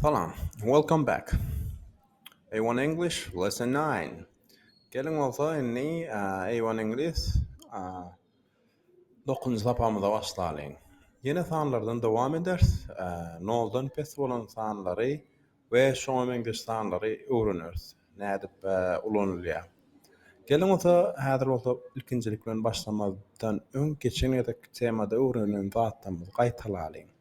Salam. Welcome back. A-one English, lesson nine. Geliň bolsa indi A-one Iňlis dokuzynjy sapagymyza başlalyň. Ýene sanlardan dowam eders. Noldan pes bolan sanlary we şoňa meňzeş sanlary öwreneris. Nädip ulanylýar. Geliň bolsa häzir bolsa ilkinjilik bilen başlamazdan öň geçen gezekki temada öwrenilen zatlarymyzy gaýtalalyň.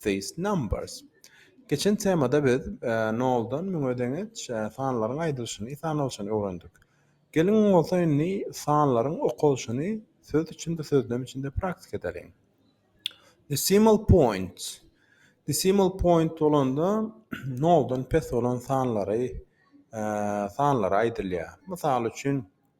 these numbers. Geçen temada biz noldan müňe deňeç sanlaryň aýdylyşyny, sanalyşyny öwrendik. Geliň bolsa indi sanlaryň okalyşyny söz içinde, sözlem içinde praktika edeliň. Decimal point. Decimal point bolanda noldan pes bolan sanlary sanlary aýdylýar. Mysal üçin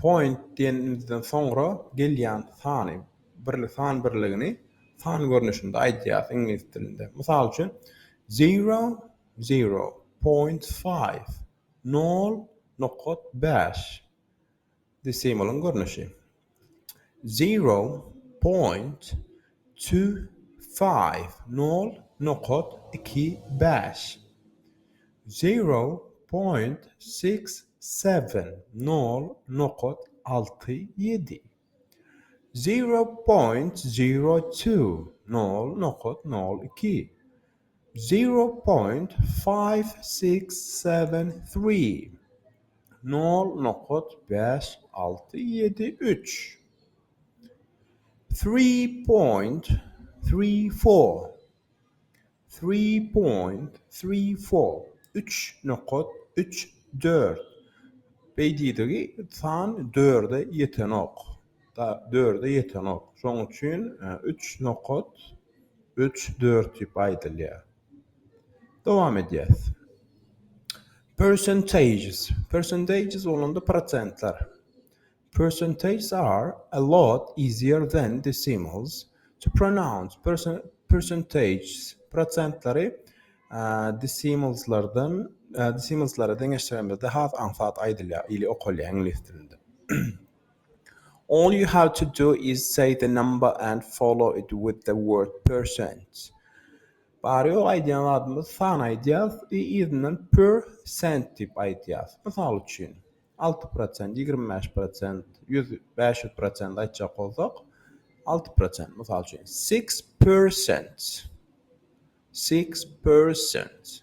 Point diýenimizden soňra gelýän sany birlik san birligini san görnüşinde aýdýarys iňlis dilinde. Mysal üçin, zero, zero, point five, nol nokat bäş, desimalyň görnüşi. Zero point two five, nol nokat iki bäş. Zero point six seven, nol nokat alty ýedi. Zero point zero two, nol nokat nol iki. Zero point five six seven three Nol nokat bäş alty ýedi üç Three point three four Three point three four Üç nokat üç dört Beýdidigi san dörde ýetenok. Sagat dörde ýetenok. Şoň üçin üç nokat üç dört diýip aýdylýar. Dowam edýäs. Percentages. Percentages bolanda prosentler. Percentages are a lot easier than decimals to pronounce. Percentages prosentleri decimalslardan decimalslara deňeşdiremizde has aňsat aýdylýar ili okalýar iňlis dilinde. All you have to do is say the number and follow it with the word percent. Bary ýok aýdýan zadymyz san aýdýas we yzyndan per cent diýip aýdýas. Mysal üçin, alty prosent, ýigrimi bäş prosent, ýüz, bäş ýüz prosent aýtjak bolsak, alty prosent, mysal üçin, six percent. Six percent.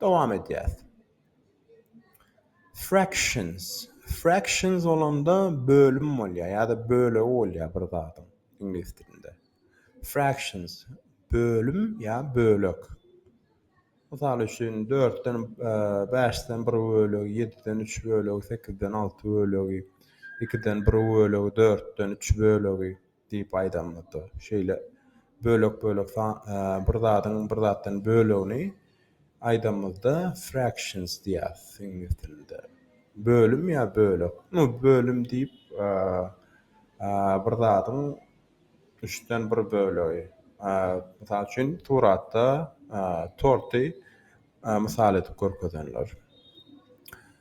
Dowam edýäs. Fractions. Fractions bolanda bölüm bolýar ýa-da bölegi bolýar bir zadyň iňlis dilinde. Fractions bölüm ýa bölek. Mysal üçin, dörtden, e, bäşden bir bölegi, ýediden üç bölegi, sekizden alty bölegi, ikiden bir bölegi, dörtden üç bölegi. Diýip aýdamyzda, şeýle bölek-bölek bir zadyň bir zatdan bölegini aýdamyzda fractions diýýäs iňlis dilinde. Bölüm ýa bölek. Nu, bölüm diýip bir zadyň üçden bir bölegi. Mysal üçin, suratda torty mysal edip görkezenler.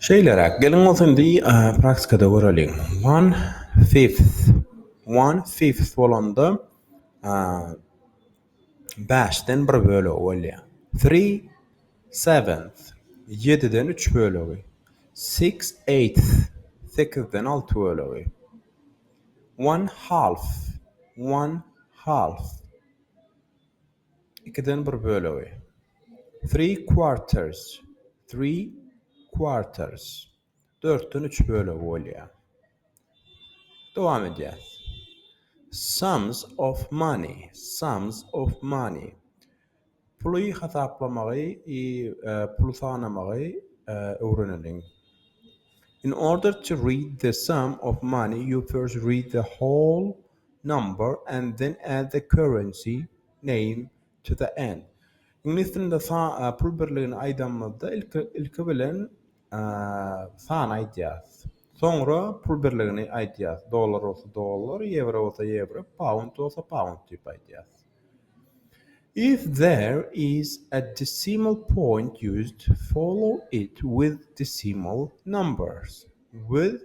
Şeýleräk, geliň bolsa indi praktikada göreliň. One fifth. One fifth bolanda bäşden bir bölegi bolýar. Three seventh. Ýediden üç bölegi. Six eighth. Sekizden alty bölegi. One half. One half. Ikiden bir bölegi. Three quarters. Three quarters. Dörtden üç bölegi bolýar. Dowam edýäs. Sums of money. Sums of money. Puly hasaplamagy, e, puly sanamagy e, öwreneliň. In order to read the sum of money, you first read the whole number and then add the currency name to the end. Iňlis dilinde sa pul birligini aýdanymyzda ilki ilki bilen sany aýdýarys. Soňra pul birligini aýdýarys. Dollar bolsa dollar, ýewro bolsa ýewro, pound bolsa pound diýip aýdýarys. If there is a decimal point used follow it with decimal numbers with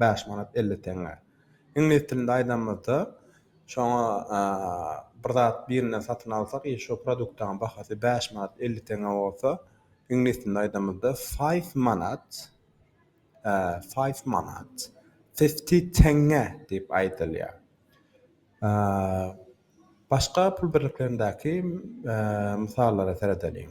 bäş manat elli teňňe. Iňlis dilinde aýdanymyzda, şoňa bir zat birinden satyn alsak i şo produktaň bahasy bäş manat elli teňňe bolsa, iňlis dilinde aýdanymyzda, five manat, five manat, fifty teňňe diýip aýdylýar. Başga pul birliklerindäki mysallara seredeliň.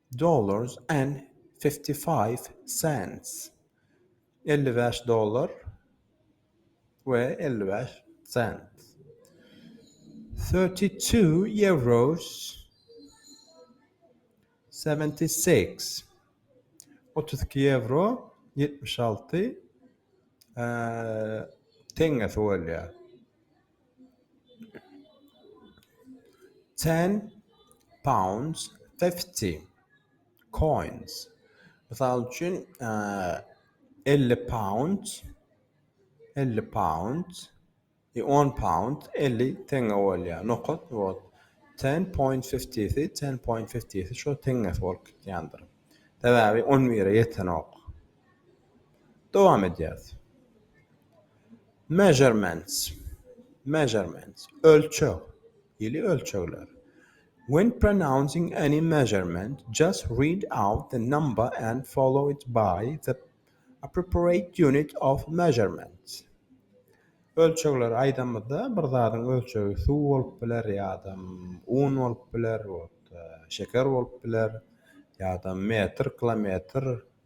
Dollars and fifty five cents, elli bäş dollar we elli bäş sent. Thirty two euros, seventy six, otuz iki ýewro, ýetmiş alty teňňesi bolýar. Ten pounds fifty coins. Mysal üçin, elli pound, elli pound, on pound, elli teňňe bolýar. Nokat bor. Ten point fifty-si, ten point fifty-si şo teňňesi bolup gitýändir. Sebäbi on bire ýetenok. Dowam edýäris. Measurements, measurements, ölçeg, ýyly ölçegler. When pronouncing any measurement, just read out the number and follow it by the appropriate unit of measurement. Ölçegleri aýdamyzda, bir zadyň ölçegi suw bolup biler ýa-da un bolup biler, şeker bolup biler ýa-da metr, kilometr,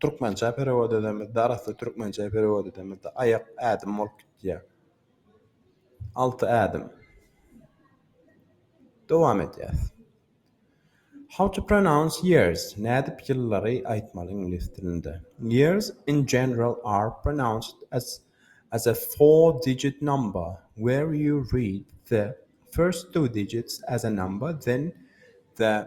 Türkmençä perewod edemizde, arassa türkmençä perewod edemizde aýak ädim bolup gitýär. Alty ädim. Dowam edýäs. How to pronounce years? Nädip ýyllary aýtmaly iňlis dilinde? Years in general are pronounced as as a four digit number where you read the first two digits as a number then the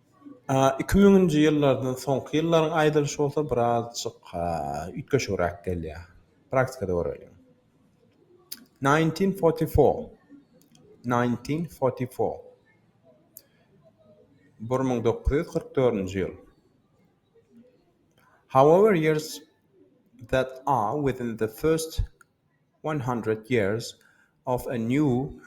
Iki müňünji ýyllardan soňky ýyllaryň aýdylyşy bolsa birazjyk üýtgeşigräk gelýär. Praktikada göreliň. Nineteen forty four. Nineteen forty four. Bir müň dokuz ýüz kyrk dördünji ýyl. However years that are within the first One Hundred Years of a New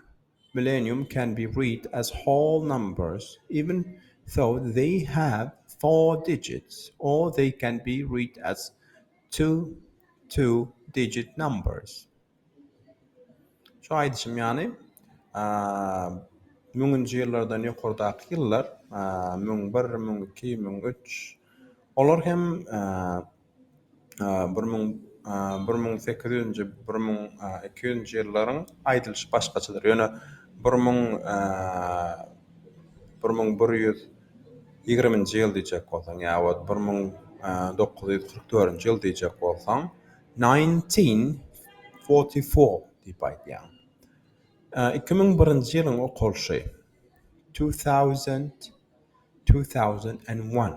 Millennium can be read as whole numbers, even though they have four digits, or they can be read as two two-digit numbers. Şu aýdyşym ýaly, müňünji ýyllardan ýokardaky ýyllar, müň bir, müň iki, müň üç, olar hem Bir müň bir müň sekiz ýüzünji bir müň iki ýüzünji ýyllaryň aýdylyşy başgaçadyr. Ýöne bir müň bir müň bir ýüz ýigriminji ýyl diýjek bolsaň ýa wagt bir müň dokuz ýüz kyrk dördünji ýyl diýjek bolsaň nineteen forty four diýip aýdýaň. Iki müň birinji ýylyň okalyşy two thousand two thousand and one.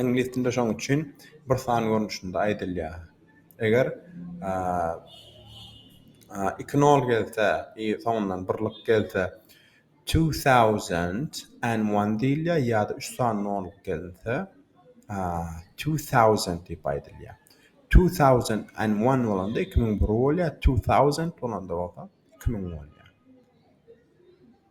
Iňlis dilinde şoň üçin bir san görnüşinde aýdylýar. Eger iki nol gelse i soňundan birlik gelse two thousand and one diýilýär ýa-da üç sany nol gelinse two thousand diýip aýdylýar. Two thousand and one bolanda iki müň bir bolýar, two thousand bolanda bolsa iki müň bolýar.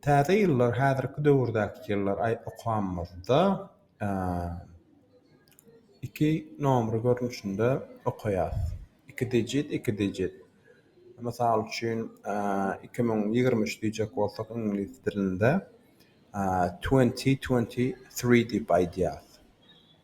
Täze ýyllar häzirki döwürdäki ýyllar aý okamyzda iki nomry görnüşinde okaýas. Iki dijit, iki dijit. Mysal üçin, iki müň ýigrimi üç diýjek bolsak iňlis dilinde twenty twenty three diýip aýdýas.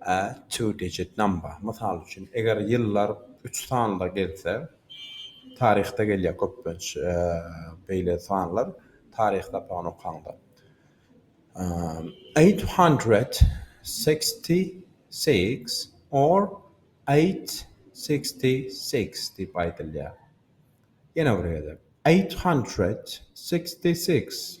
A two digit number, mysal üçin, eger ýyllar üç sanda gelse, taryhda gelýär köplenç beýle sanlar, taryh sapagyny okaňda. Eight hundred sixty six or eight sixty six diýip aýdylýar. Ýene bir gezek, Eight hundred sixty six.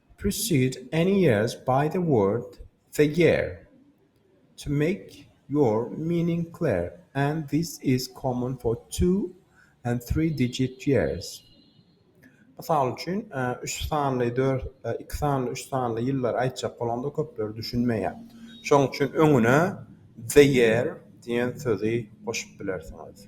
Precede any years by the word the year to make your meaning clear, and this is common for two and three digit years. Mysal üçin, üç sanly, dört, iki sanly, üç sanly ýyllary aýtjak bolanda köpler düşünmeýär. Şonuň üçin öňüne the year diýen sözi goşup bilersiňiz.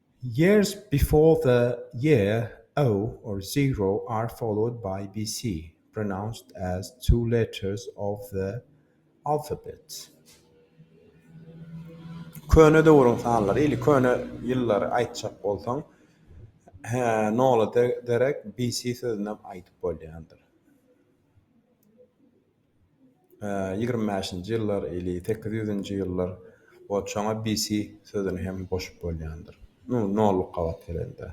Years before the year o or zero are followed by bc, pronounced as two letters of the alphabet. Köne döwrüň sanlary, ili köne ýyllary aýtjak bolsaň, he, nola derek bc sözünem aýdyp bolýandyr. Ýigrimi bäşinji ýyllar ili sekiz ýüzünji ýyllar we çona BC sözüni hem goşup bolýandyr. Nu, nolluk gabat gelende.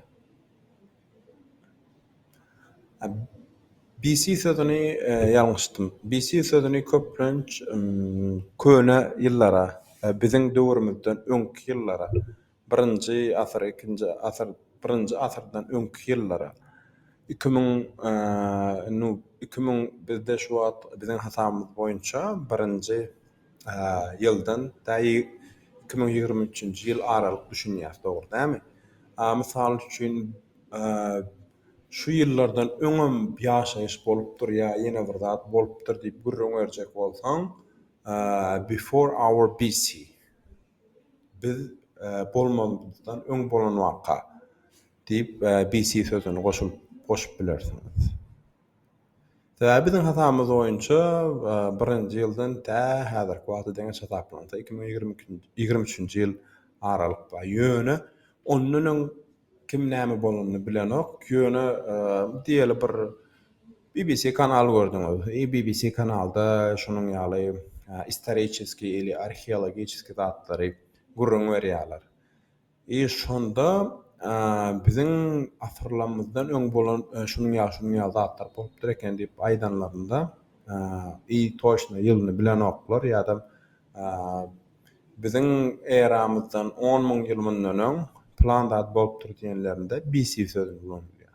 BC sözüni ýalňyşdym. BC sözüni köplenç köne ýyllara, biziň döwrümizden öňki ýyllara Birinji asyr, ikinji asyr, birinji asyrdan öňki ýyllara, iki müň, indi iki müň bizde şu wagt biziň hasabymyz boýunça birinji ýyldan tä iki müň ýigrimi üçünji ýyl aralyk düşünýäs, dogry dälmi? Mysal üçin, şu ýyllardan öňem ýaşaýyş bolupdyr ýa ýene bir zat bolupdyr diýip gürrüň berjek bolsaň, before our BC. Biz bolmazymyzdan öň bolan waka, diýip, BC sözüni goşup bilersiňiz. Sebäbi biziň hasabymyz boýunça birinji ýyldan tä häzirki wagta deňeç hasaplansa, iki müň ýigrimi üçünji ýyl aralyk bar. Ýöne ondan öň kim näme bolanyny bilenok. Ýöne diýeli bir BBC kanal gördüňiz. Eý BBC kanalda şunuň ýaly istoriçeskiý ili arheologiçeskiý zatlary gürrüň berýärler. Eý şonda biziň asyrlamyzdan öň bolan şunuň ýaly şunuň ýaly zatlar bolupdyr eken diýip aýdanlarynda eý toçna ýylyny bilenoklar ýa-da biziň eramyzdan on müň ýyl mundan öň plan zat bolupdyr diýenlerinde BC sözüni ulanylýar.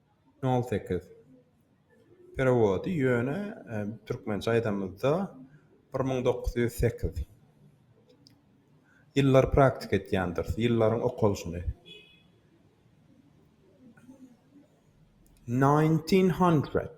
Nol sekiz. Perewody ýöne türkmençe aýdamyzda bir müň dokuz ýüz sekiz. Ýyllar praktika etýändiris. Ýyllaryň okalyşyny. Nineteen hundred.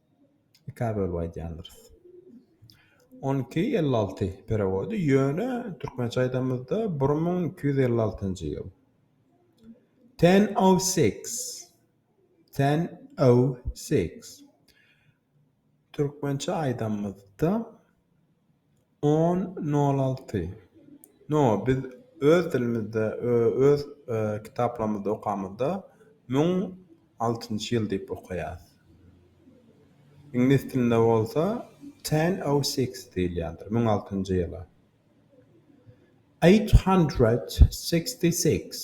Ikä bölüp aýdýandyrys. On iki elli alty perewody, ýöne türkmençe aýdamyzda bir müň iki ýüz elli altynjy ýyl. Ten o six. Ten o six. Türkmençe aýdamyzda On nol alty No biz öz dilimizde öz kitaplarymyzda okamyzda müň altynjy ýyl diýip okaýas. Iňlis dilinde bolsa ten o six diýilýändir müň altynjy ýyla. Eight hundred sixty six.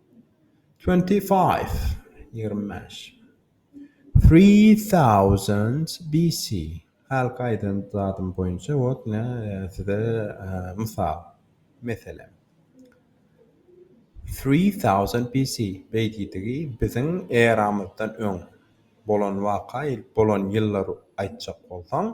Twenty five, ýigrimi bäş. Three thousand BC, Hälik aýdan zadym boýunça wot ine size mysal, meselem. Three thousand BC, beýdidigi biziň eramyzdan öň bolan waka, bolan ýyllary aýtjak bolsaň.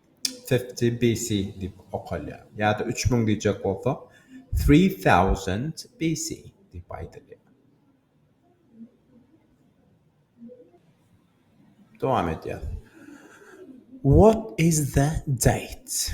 BC diýip okalýar. Ýa-da üç müň diýjek bolsak, three thousand BC diýip aýdylýar. Dowam edýäris. What is the date?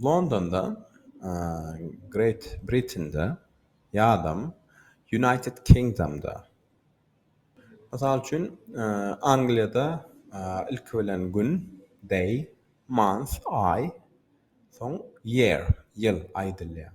Londonda, Great Britain'de ýadam United Kingdom'da. Mysal üçin, Angliýada ilki bilen gün, day, month, aý, soň year, ýyl, aýdylýar.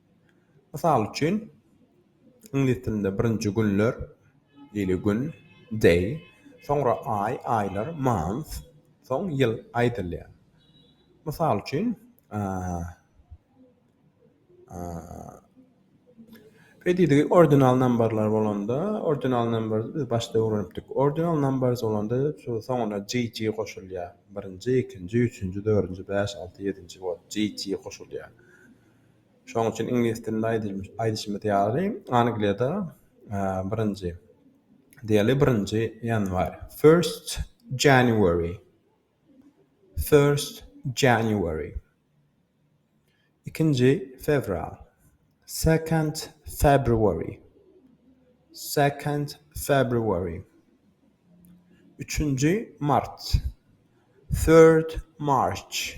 Mysal üçin, iňlis dilinde birinji günler, daily, gün, day, soňra aý, aýlar, month, soň ýyl, aýdylýar. Mysal üçin, Predidi ordinal nambarlar bolanda, ordinal nambar biz başda öwrenipdik. Ordinal numbers bolanda soňuna GG goşulýar. Birinji, ikinji, üçünji, dördünji, bäş, alty, ýedinji, ýedi, GG goşulýar. Şonuň üçin iňlis dilinde aýdyşymyz ýaly, Angliýada birinji, diýeli, birinji ýanwar, first January, first January, ikinji fewral, second February, second February, üçünji mart, third March,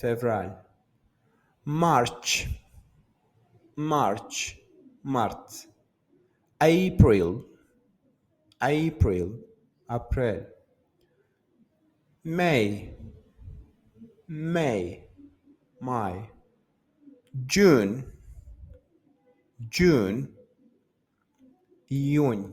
Fewral. March. March. Mart. April. April. Aprel. May. May. May. June. June. Iýun.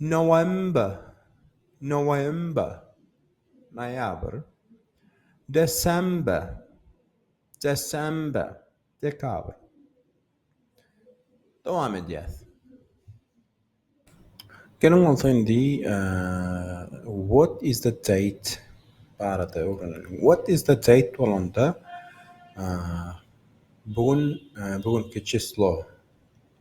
November, November, noýabr. December, December, dekabr. Dowam edýäs. Geliň bolsa indi what is the date barada öwreneliň. What is the date bolanda bu gün, bu günki çislo,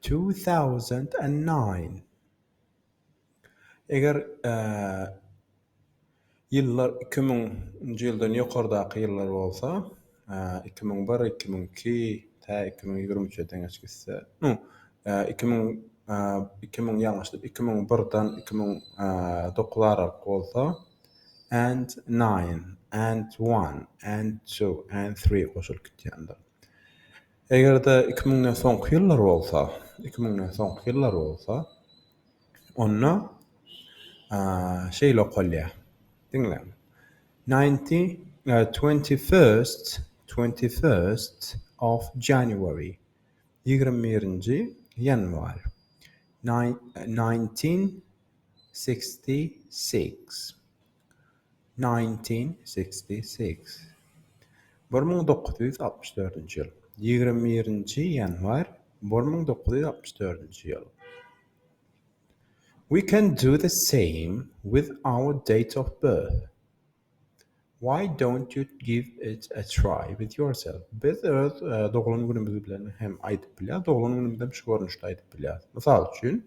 Two thousand and nine Eger ýyllar iki müň nji ýyldan ýokardaky ýyllar bolsa, iki müň bir, iki müň iki, tä iki müň ýigrimi üçe deňeç gitse, no, iki müň, iki müň, ýalňyşdyr, iki müň birden iki müň dokuz aralyk bolsa, and nine, and one, and two, and three goşulyp gitýändir. Eger-de iki müňden soňky ýyllar bolsa, iki müňden soňky ýyllar bolsa, onda şeýle okalýar, diňläň, Ninety, twenty-first, twenty-first of January, ýigrimi birinji ýanwar, nineteen sixty-six. 1966 bir müň dokuz ýüz altmyş dördünji ýyl ýigrimi birinji ýanwar bir müň dokuz ýüz altmyş dördünji ýyl we can do the same with our date of birth why dont you give it a try with yourself biz öz doglan günümiz bilen hem aýdyp bilýäris doglan günümizem şu görnüşde aýdyp bilýäris mysal üçin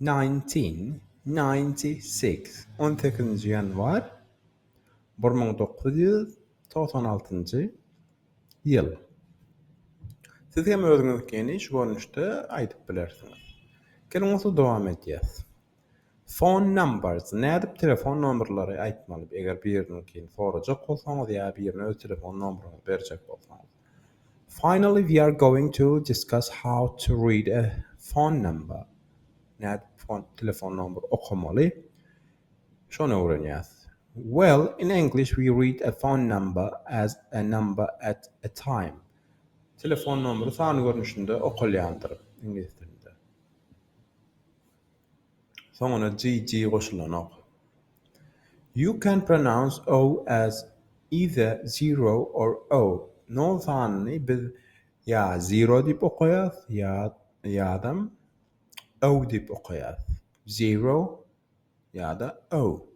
Nineteen ninety six On sekizinji ýanwar bir müň dokuz ýüz togsan altynjy ýyl Siz hem özüňizkini şu görnüşde aýdyp bilersiňiz. Geliň onsuz dowam edýäs. Phone numbers Nädip telefon nomerleri aýtmaly eger biriniňkini sorajak bolsaňyz ýa birine öz telefon nomeryňyzy berjek bolsaňyz. Finally we are going to discuss how to read a phone number. Nädip fon telefon nomber okamaly? Şony öwrenýäs. Well, in English we read a phone number as a number at a time. Telefon nomeri san görnüşinde okalýandyr, iňlis dilinde. Soňuna GG goşulanok. You can pronounce O as either zero or O. Nol sanyny biz ýa zero diýip okaýas, ýa ýadam O diýip okaýas. Zero ýa-da O.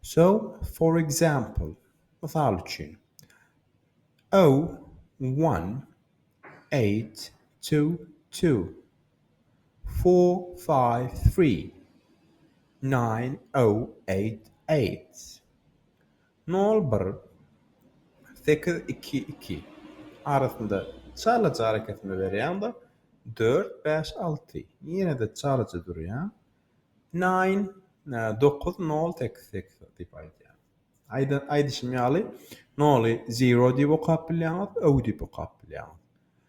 So, for example, mysal üçin, O, one, eight, two, two. Four five three nine oh eight eight Nol bir sekiz iki iki Arasynda çalyjy arakesme berýäňda dört bäş alty ýene-de çalyjy durýa Nine dokuz nol sekiz sekiz diýip aýdýar. Aýda aýdyşym ýaly noly zero diýip okap bilýäňiz, oh diýip okap bilýäňiz.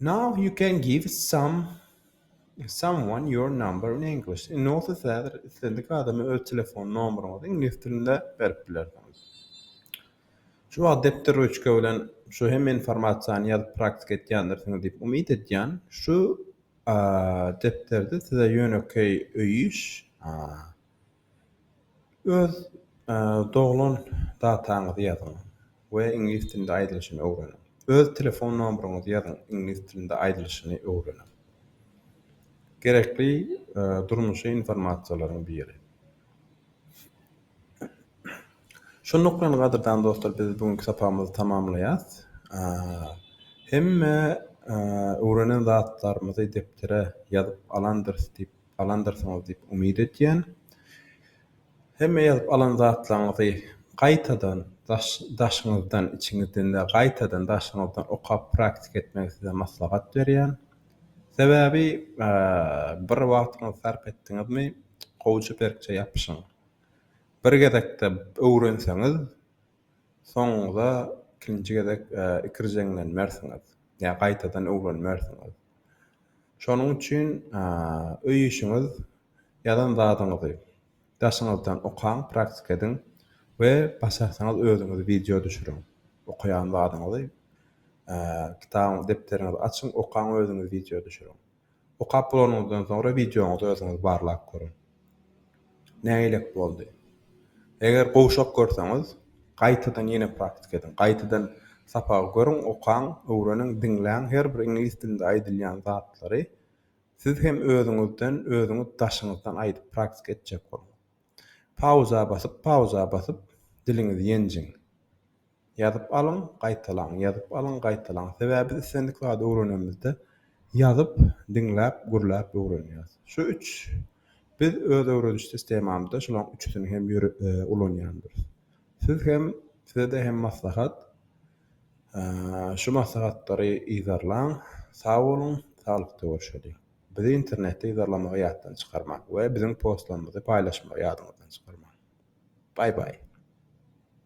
Now you can give some someone your number in English. Indi bolsa siz häzir islendik adama öz telefon nomeryňyzy iňlis dilinde berip bilersiňiz. Şu wagt depder ruçka bilen şu hemme informasiýany ýazyp praktika etýändirsiňiz diýip umyt edýän. Şu depderde size ýönekeý öýüş Öz doglan dataňyzy ýazyň we iňlis dilinde aýdylyşyny öwreniň. Öz telefon nomeryňyzy ýazyň, iňlis dilinde aýdylyşyny öwreniň. Gerekli durmuşy informasiýalaryň biri. Şonluk bilen gadyrdan dostlar biz bu günki sapagymyzy tamamlaýas. Hemme öwrenen zatlarymyzy depdere ýazyp alandyr diýip alandyrsyňyz diýip umyt edýän. Hemme ýazyp alan zatlaryňyzy gaýtadan daşyňyzdan, içiňizden däl, gaýtadan daşyňyzdan okap praktika etmegi size maslahat berýän. Sebäbi bir wagtyňyzy sarp etdiňizmi, gowja berkje ýapyşyň. Bir gezekde öwrenseňiz, Soňuňyza ikinji gezek ikirjeňlenmersiňiz, ýa gaýtadan öwrenmersiňiz. Şonuň üçin öý işiňiz ýazan zadyňyzy daşyňyzdan okaň, praktika ediň we başarsaňyz özüňiz wideo düşüriň. Okaýan zadyňyzy kitabyňyzy, depderiňizi açyň, okaň özüňiz wideo düşüriň. Okap bolanyňyzdan soňra wideoňyzy özüňiz barlap görüň. Nägilek boldy? Eger gowşak görseňiz, gaýtadan ýene praktika ediň. Gaýtadan sapagy görüň, okaň, öwreniň, diňläň, her bir iňlis dilinde aýdylýan zatlary siz hem özüňizden, özüňiz daşyňyzdan aýdyp praktika etjek boluň. Pauza basyp, pauza basyp diliňizi ýenjiň. Ýazyp alyň, gaýtalaň, ýazyp alyň, gaýtalaň. Sebäbi biz islendik zady öwrenemizde ýazyp, diňläp, gürläp öwrenýäris. Şu üç Biz öz öwrediş sistemamyzda şulaň üçüsini hem ulanýandyrys. Siz hem, size-de hem maslahat, şu maslahatlary yzarlaň. Sag boluň, saglykda görşeliň. Bizi internetde yzarlamagy ýatdan çykarmaň we biziň postlarymyzy paýlaşmagy ýadyňyzdan çykarmaň. Baý-baý!